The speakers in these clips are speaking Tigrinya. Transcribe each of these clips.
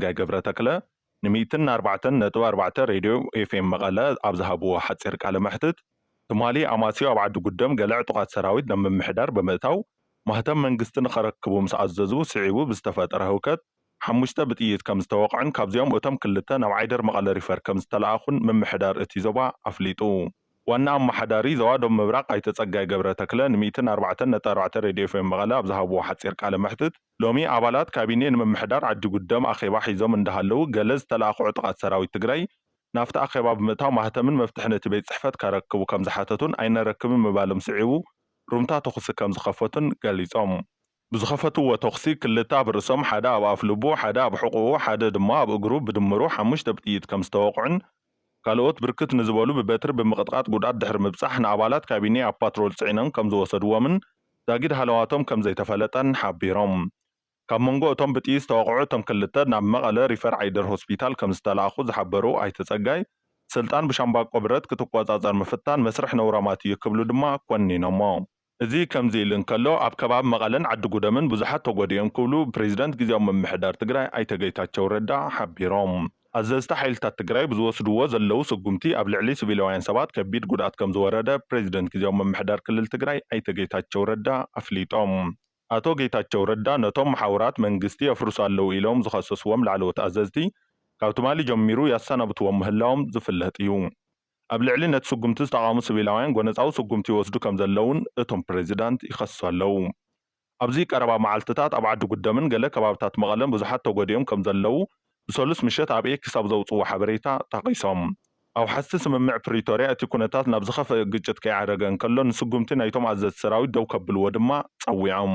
ጸጋይ ገብረ ተክለ ንሚእትን ኣርባዕተን ነጥቢ ኣርባዕተ ሬድዮ ኤፍኤም መቐለ ኣብ ዝሃብዎ ሓጺር ቃለ መሕትት፣ ትማሊ ኣማስዩ ኣብ ዓዲ ጉደም ገለ ዕጡቓት ሰራዊት ናብ ምምሕዳር ብምእታው ማህተም መንግስቲ ንኸረክቡ ምስ ኣዘዙ ስዒቡ ብዝተፈጠረ ህውከት ሓሙሽተ ብጥይት ከም ዝተወቕዑን ካብዚኦም እቶም ክልተ ናብ ዓይደር መቐለ ሪፈር ከም ዝተለኣኹን ምምሕዳር እቲ ዞባ ኣፍሊጡ። ዋና ኣመሓዳሪ ዞባ ዶብ ምብራቕ ኣይተ ፀጋይ ገብረተክለ ን ሚእትን ኣርባዕተን ነጥቢ ኣርባዕተ ሬድዮ ኤፍኤም መቐለ ኣብ ዝሃብዎ ሓፂር ቃለ መሕትት ሎሚ ኣባላት ካቢኔ ንምምሕዳር ዓዲጉደም ኣኼባ ሒዞም እንዳሃለው ገለ ዝተለኣኹ ዕጡቓት ሰራዊት ትግራይ ናብቲ ኣኼባ ብምእታው ማህተምን መፍትሕን እቲ ቤት ፅሕፈት ከረክቡ ከም ዝሓተቱን ኣይነረክብን ምባሎም ስዒቡ ሩምታ ተኹሲ ከም ዝኸፈቱን ገሊፆም። ብዝኸፈትዎ ተኹሲ ክልተ ኣብ ርእሶም፣ ሓደ ኣብ ኣፍልቡ፣ ሓደ ኣብ ሕቖኡ፣ ሓደ ድማ ኣብ እግሩ ብድምሩ ሓሙሽተ ብጥይት ከምዝተወቕዑን ካልኦት ብርክት ንዝበሉ ብበትሪ ብምቕጥቓጥ ጉድኣት ድሕሪ ምብፃሕ ንኣባላት ካቢኔ ኣብ ፓትሮል ፅዒኖም ከምዝወሰድዎምን ዛጊድ ሃለዋቶም ከምዘይተፈለጠን ሓቢሮም። ካብ መንጎ እቶም ብጥይት ዝተወቕዑ እቶም ክልተ ናብ መቐለ ሪፈር ዓይደር ሆስፒታል ከምዝተላኣኹ ዝሓበሩ ኣይተ ፀጋይ ስልጣን ብሻምባቆ ብረት ክትቆፃፀር ምፍታን መስርሕ ነውራማት እዩ ክብሉ ድማ ኮኒኖሞ። እዚ ከምዚ ኢሉ እንከሎ፣ ኣብ ከባቢ መቐለን ዓዲጉደምን ብዙሓት ተጎዲኦም ክብሉ ፕሬዚዳንት ግዝያዊ ምምሕዳር ትግራይ ኣይተ ጌታቸው ረዳ ሓቢሮም። ኣዘዝቲ ሓይልታት ትግራይ ብዝወስድዎ ዘለው ስጉምቲ ኣብ ልዕሊ ስቪላውያን ሰባት ከቢድ ጉድኣት ከምዝወረደ ፕሬዚደንት ግዝያዊ ምምሕዳር ክልል ትግራይ ኣይተ ጌታቸው ረዳ ኣፍሊጦም። ኣቶ ጌታቸው ረዳ ነቶም መሓውራት መንግስቲ የፍርሱ ኣለው ኢሎም ዝኸሰስዎም ላዕለዎት ኣዘዝቲ ካብ ትማሊ ጀሚሩ የሰናብትዎም ምህላዎም ዝፍለጥ እዩ። ኣብ ልዕሊ ነቲ ስጉምቲ ዝተቓወሙ ስቪላውያን ጎነጻዊ ስጉምቲ ይወስዱ ከምዘለዉን እቶም ፕሬዚዳንት ይኸሱ ኣለዉ። ኣብዚ ቀረባ መዓልትታት ኣብ ዓዲ ጉደምን ገለ ከባብታት መቐለን ብዙሓት ተጎዲኦም ከምዘለዉ ብሰሉስ ምሸት ኣብ ኤክስ ኣብ ዘውጽዎ ሓበሬታ ጠቒሶም። ኣውሓስቲ ስምምዕ ፕሪቶርያ እቲ ኩነታት ናብ ዝኸፍእ ግጭት ከይዓረገ እንከሎ ንስጉምቲ ናይቶም ኣዘዝቲ ሰራዊት ደው ከብልዎ ድማ ጸዊዖም።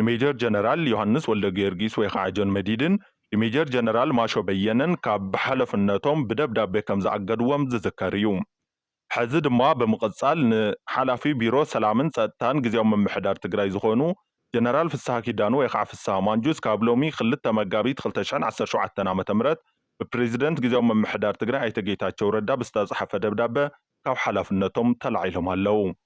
ንሜጀር ጀነራል ዮሃንስ ወልደጊዮርጊስ ወይ ኸዓ ጆን መዲድን ንሜጀር ጀነራል ማሾ በየነን ካብ ሓለፍነቶም ብደብዳቤ ከም ዝኣገድዎም ዝዝከር እዩ። ሕዚ ድማ ብምቕፃል ንሓላፊ ቢሮ ሰላምን ፀጥታን ግዝያዊ ምምሕዳር ትግራይ ዝኾኑ ጀነራል ፍስሃ ኪዳኑ ወይ ኸዓ ፍስሃ ማንጁስ ካብ ሎሚ ክልተ መጋቢት ክልተ ሽሕን ዓሰርተ ሸውዓተን ዓመተ ምህረት ብፕሬዚደንት ግዝያዊ ምምሕዳር ትግራይ ኣይተ ጌታቸው ረዳ ብዝተፅሓፈ ደብዳበ ካብ ሓላፍነቶም ተላዒሎም ኣለው።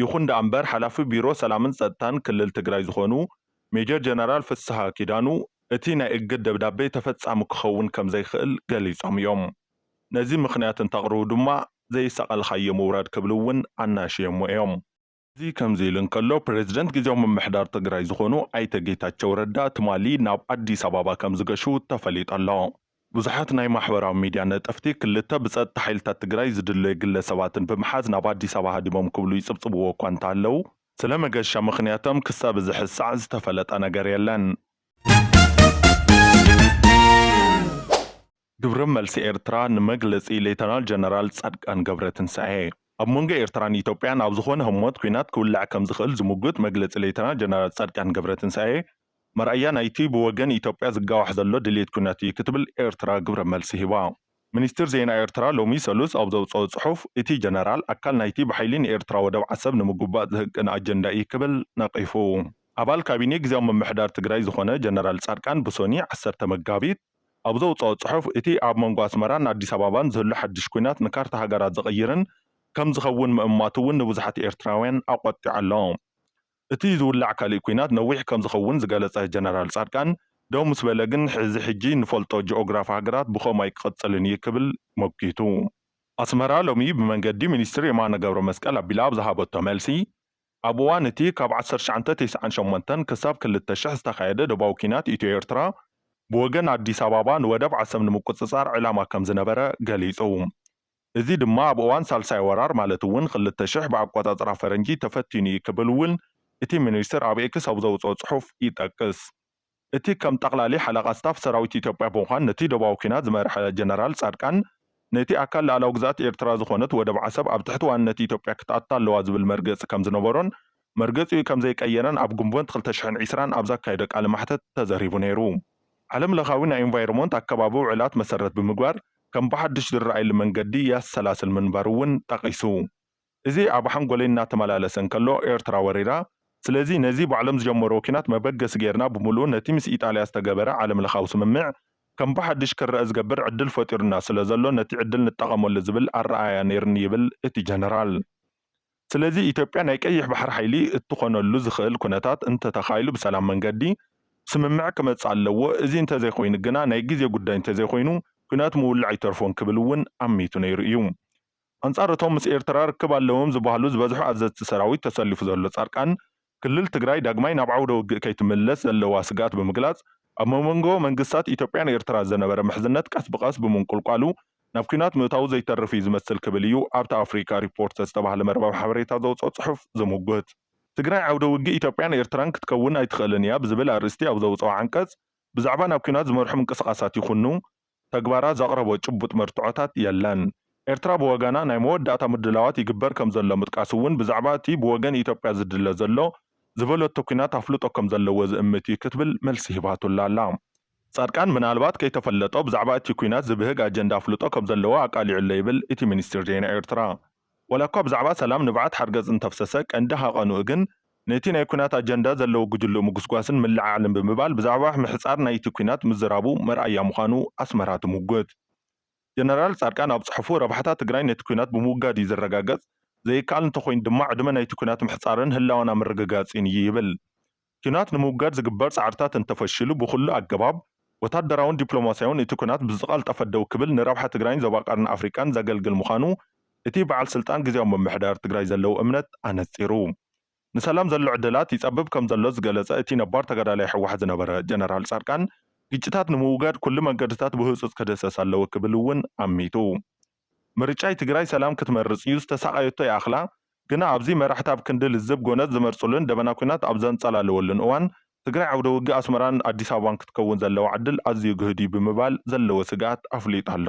ይኹን ደኣ እምበር ሓላፊ ቢሮ ሰላምን ፀጥታን ክልል ትግራይ ዝኾኑ ሜጀር ጀነራል ፍስሃ ኪዳኑ እቲ ናይ እግድ ደብዳቤ ተፈፃሚ ክኸውን ከምዘይኽእል ገሊፆም እዮም። ነዚ ምኽንያት እንተቕርቡ ድማ ዘይሰቐልኻዮ ምውራድ ክብሉ እውን ኣናሽዮሞ እዮም። እዚ ከምዚ ኢሉ እንከሎ ፕሬዝደንት ግዝያዊ ምምሕዳር ትግራይ ዝኾኑ ኣይተ ጌታቸው ረዳ ትማሊ ናብ ኣዲስ ኣባባ ከምዝገሹ ተፈሊጡ ኣሎ። ብዙሓት ናይ ማሕበራዊ ሚድያ ነጠፍቲ ክልተ ብፀጥታ ሓይልታት ትግራይ ዝድለዩ ግለ ሰባትን ብምሓዝ ናብ ኣዲስ ኣበባ ሃዲሞም ክብሉ ይፅብፅብዎ እኳ እንተሃለው ስለ መገሻ ምኽንያቶም ክሳብ እዚ ሕዚ ሰዓት ዝተፈለጠ ነገር የለን። ግብረ መልሲ ኤርትራ ንመግለጺ ሌተናል ጀነራል ጻድቃን ገብረትንሳኤ ኣብ መንጎ ኤርትራን ኢትዮጵያን ኣብ ዝኾነ ህሞት ኲናት ክውላዕ ከምዝኽእል ዝምጉት መግለጺ ሌተናል ጀነራል ጻድቃን ገብረትንሳኤ መርኣያ ናይቲ ብወገን ኢትዮጵያ ዝጋዋሕ ዘሎ ድሌት ኲናት እዩ ክትብል ኤርትራ ግብረ መልሲ ሂባ። ሚኒስትሪ ዜና ኤርትራ ሎሚ ሰሉስ ኣብ ዘውጽኦ ጽሑፍ፣ እቲ ጀነራል ኣካል ናይቲ ብሓይሊ ንኤርትራ ወደብ ዓሰብ ንምጉባጥ ዝህቅን ኣጀንዳ እዩ ክብል ነቒፉ። ኣባል ካቢኔ ግዝያዊ ምምሕዳር ትግራይ ዝኾነ ጀነራል ጻድቃን ብሶኒ ዓሰርተ መጋቢት ኣብ ዘውጽኦ ጽሑፍ፣ እቲ ኣብ መንጎ ኣስመራን ኣዲስ ኣባባን ዝህሉ ሓድሽ ኲናት ንካርታ ሃገራት ዝቕይርን ከምዝኸውን ምእማቱ እውን ንብዙሓት ኤርትራውያን ኣቖጢዑ ኣሎ። እቲ ዝውላዕ ካሊእ ኲናት ነዊሕ ከምዝኸውን ዝገለፀ ጀነራል ፃድቃን፣ ደው ምስ በለ ግን እዚ ሕጂ ንፈልጦ ጂኦግራፍ ሃገራት ብኸምኡ ኣይክቕፅልን እዩ ክብል መጒቱ። ኣስመራ ሎሚ ብመንገዲ ሚኒስትር የማነ ገብረመስቀል ኣቢላ ኣብ ዝሃበቶ መልሲ፣ ኣብ እዋን እቲ ካብ ዓሰርተ ትሽዓተ ተስዓን ሸሞንተን ክሳብ ክልተ ሽሕ ዝተኻየደ ዶባዊ ኲናት ኢትዮ ኤርትራ ብወገን ኣዲስ ኣባባ ንወደብ ዓሰብ ንምቁፅፃር ዕላማ ከምዝነበረ ገሊፁ። እዚ ድማ ኣብ እዋን ሳልሳይ ወራር ማለት እውን ክልተ ሽሕ ብኣቆፃፅራ ፈረንጂ ተፈቲኑ እዩ ክብል እውን እቲ ሚኒስትር ኣብ ኤክስ ኣብ ዘውፅኦ ፅሑፍ ይጠቅስ። እቲ ከም ጠቕላሊ ሓለቓ ስታፍ ሰራዊት ኢትዮጵያ ብምዃን ነቲ ዶባዊ ኲናት ዝመርሐ ጀነራል ፃድቃን ነቲ ኣካል ልኣላዊ ግዝኣት ኤርትራ ዝኾነት ወደብ ዓሰብ ኣብ ትሕቲ ዋንነት ኢትዮጵያ ክትኣቱ ኣለዋ ዝብል መርገፂ ከምዝነበሮን መርገፂኡ ከምዘይቀየረን ኣብ ግንቦት ክልተ ሽሕን ዕስራን ኣብ ዘካየዶ ቃለ መሕተት ተዘሪቡ ነይሩ። ዓለም ለኻዊ ናይ ኢንቫይሮሞንት ኣከባቢ ውዕላት መሰረት ብምግባር ከም ብሓዱሽ ዝረኣየሉ መንገዲ የሰላስል ምንባሩ እውን ጠቒሱ። እዚ ኣብ ሓንጎለይ እናተመላለሰ እንከሎ ኤርትራ ወሪራ፣ ስለዚ ነዚ ባዕሎም ዝጀመርዎ ኲናት መበገሲ ገይርና ብምሉኡ ነቲ ምስ ኢጣልያ ዝተገበረ ዓለምለኻዊ ስምምዕ ከም ብሓዱሽ ክረኣ ዝገብር ዕድል ፈጢሩና ስለዘሎ ነቲ ዕድል ንጠቐመሉ ዝብል ኣረኣእያ ነይሩኒ ይብል እቲ ጀነራል። ስለዚ ኢትዮጵያ ናይ ቀይሕ ባሕሪ ሓይሊ እትኾነሉ ዝኽእል ኩነታት እንተተኻኢሉ ብሰላም መንገዲ ስምምዕ ክመጽእ ኣለዎ፣ እዚ እንተዘይኾይኑ ግና ናይ ግዜ ጉዳይ እንተዘይኾይኑ ኩናት ምውላዕ ኣይተርፎን ክብል እውን ኣሚቱ ነይሩ እዩ። ኣንጻር እቶም ምስ ኤርትራ ርክብ ኣለዎም ዝበሃሉ ዝበዝሑ ኣዘዝቲ ሰራዊት ተሰሊፉ ዘሎ ጻድቃን ክልል ትግራይ ዳግማይ ናብ ዓውደ ውግእ ከይትምለስ ዘለዋ ስግኣት ብምግላፅ ኣብ ሞሞንጎ መንግስታት ኢትዮጵያን ኤርትራ ዘነበረ ምሕዝነት ቀስ ብቐስ ብምንቁልቋሉ ናብ ኲናት ምእታዉ ዘይተርፍ እዩ ዝመስል ክብል እዩ ኣብቲ ኣፍሪካ ሪፖርት ዝተባህለ መርበብ ሓበሬታ ዘውፅኦ ፅሑፍ ዝምጉት። ትግራይ ዓውደ ውግእ ኢትዮጵያን ኤርትራን ክትከውን ኣይትኽእልን እያ ብዝብል ኣርእስቲ ኣብ ዘውፅኦ ዓንቀፅ ብዛዕባ ናብ ኲናት ዝመርሑ ምንቅስቓሳት ይኹኑ ተግባራ ዘቕረቦ ጭቡጥ መርትዖታት የለን። ኤርትራ ብወገና ናይ መወዳእታ ምድላዋት ይግበር ከምዘሎ ምጥቃስ'ውን ብዛዕባ እቲ ብወገን ኢትዮጵያ ዝድለ ዘሎ ዝበለቶ ኲናት ኣፍልጦ ከምዘለዎ ዝእምት እዩ ክትብል መልሲ ሂባትሉ ኣላ። ጻድቃን ምናልባት ከይተፈለጦ ብዛዕባ እቲ ኲናት ዝብህግ ኣጀንዳ ኣፍልጦ ከምዘለዎ ኣቃሊዑ'ሎ ይብል እቲ ሚኒስትሪ ዜና ኤርትራ። ዋላኳ ብዛዕባ ሰላም ንብዓት ሓርገጽ እንተፍሰሰ፣ ቀንዲ ሃቐንኡ ግን ነቲ ናይ ኲናት ኣጀንዳ ዘለዎ ጉጅልኡ ምጉስጓስን ምልዕዓልን ብምባል ብዛዕባ ምሕጻር ናይቲ ኲናት ምዝራቡ መርኣያ ምዃኑ ኣስመራ ትምጉት። ጀነራል ጻድቃን ኣብ ጽሑፉ፣ ረብሓታት ትግራይ ነቲ ኲናት ብምውጋድ'ዩ ዝረጋገጽ፣ ዘይከኣል እንተኾይኑ ድማ ዕድመ ናይቲ ኲናት ምሕጻርን ህላወና ምርግጋጽን'ዩ ይብል። ኲናት ንምውጋድ ዝግበር ጻዕርታት እንተፈሺሉ ብኹሉ ኣገባብ፣ ወታደራውን ዲፕሎማስያውን፣ እቲ ኲናት ብዝቐልጠፈ ደው ክብል ንረብሓ ትግራይን ዞባ ቀርኒ ኣፍሪቃን ዘገልግል ምዃኑ እቲ በዓል ስልጣን ግዝያዊ ምምሕዳር ትግራይ ዘለዎ እምነት ኣነጺሩ ንሰላም ዘሎ ዕድላት ይጸብብ ከምዘሎ ዝገለጸ እቲ ነባር ተጋዳላይ ህወሓት ዝነበረ ጀነራል ጻድቃን ግጭታት ንምውጋድ ኩሉ መንገድታት ብህጹጽ ክድህሰስ ኣለዎ ክብል እውን ኣሚቱ። ምርጫይ ትግራይ ሰላም ክትመርፅ እዩ ዝተሳቐየቶ ይኣኽላ ግና ኣብዚ መራሕቲ ኣብ ክንዲ ልዝብ ጎነፅ ዝመርፅሉን ደበና ኩናት ኣብ ዘንፀላለወሉን እዋን ትግራይ ዓውደ ውግእ ኣስመራን ኣዲስ ኣበባን ክትከውን ዘለዋ ዕድል ኣዝዩ ግህድ እዩ ብምባል ዘለዎ ስግኣት ኣፍሊጡ ኣሎ።